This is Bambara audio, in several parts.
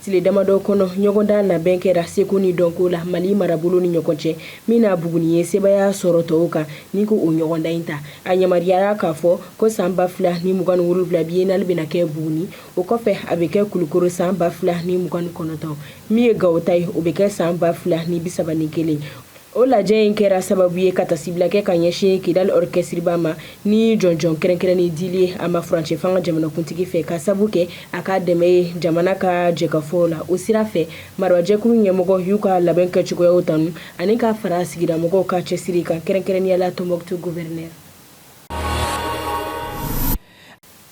Tile damadɔ kɔnɔ ɲɔgɔndan labɛn kɛra seko ni dɔnko la mali marabolo ni ɲɔgɔn cɛ min na buguni ye sebaaya sɔrɔ tɔw kan ni ko o ɲɔgɔndan in ta a yamaruyara k'a fɔ ko san ba fila ni mugan ni wolonwula biennale bɛna kɛ buguni o kɔfɛ a bɛ kɛ kulukoro san ba fila ni mugan ni kɔnɔntɔn min ye gawo ta ye o bɛ kɛ san ba fila ni bisaba ni kelen O lajɛ in kɛra sababu ye ka tasibila kɛ ka ɲɛsin Kidali orchestre-ba ma ni jɔnjɔn kɛrɛnkɛrɛnnen dili ye a ma furancɛ fanga jamanakuntigi fɛ ka sabu kɛ a ka dɛmɛ ye jamana ka jɛkafɔ la. O sira fɛ, marabajɛkulu ɲɛmɔgɔ y'u ka labɛn kɛcogoyaw tanu ani ka fara sigidamɔgɔw ka cɛsiri kan, kɛrɛnkɛrɛnnenya la Tombouctou gouverneur.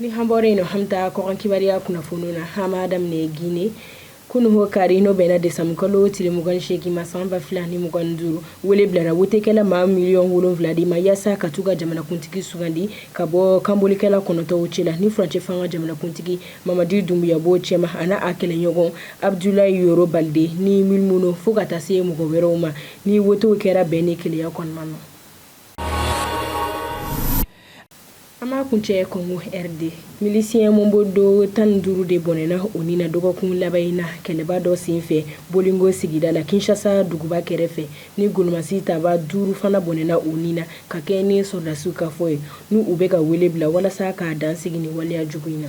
Ni an bɔra in na an bɛ taa kɔkan kibaruya kunnafoniw na an b'a daminɛ gine kunun kari n'o bɛnna desanburu kalo tile mugan ni seegin ma san ba fila ni mugan ni duuru wele bilara wotekɛla maa miliyɔn wolonwula de ma yaasa ka taa u ka jamanakuntigi sugandi ka bɔ kanbolikɛla kɔnɔntɔn cɛ la ni furancɛ fanga jamanakuntigi mamadi dunbuya b'o cɛma ani a kɛlɛɲɔgɔn abudulayi yoro balide ni milimono fo ka taa se mɔgɔ wɛrɛw ma ni wote kɛra bɛn ni kelenya kɔnɔna na An b'a kuncɛ kɔngo rd milisiɲɛ mobondo tan ni duuru de bɔnɛna u ni na dɔgɔkun laban in na kɛlɛba dɔ senfɛ bolingo sigida la kinsasa duguba kɛrɛfɛ ni gololɔmasi taba duuru fana bɔnɛna u ni na ka kɛ ni sɔrɔdasiw ka fɔ ye ni u bɛ ka wele bila walasa ka dan sigi ni waleya jugu in na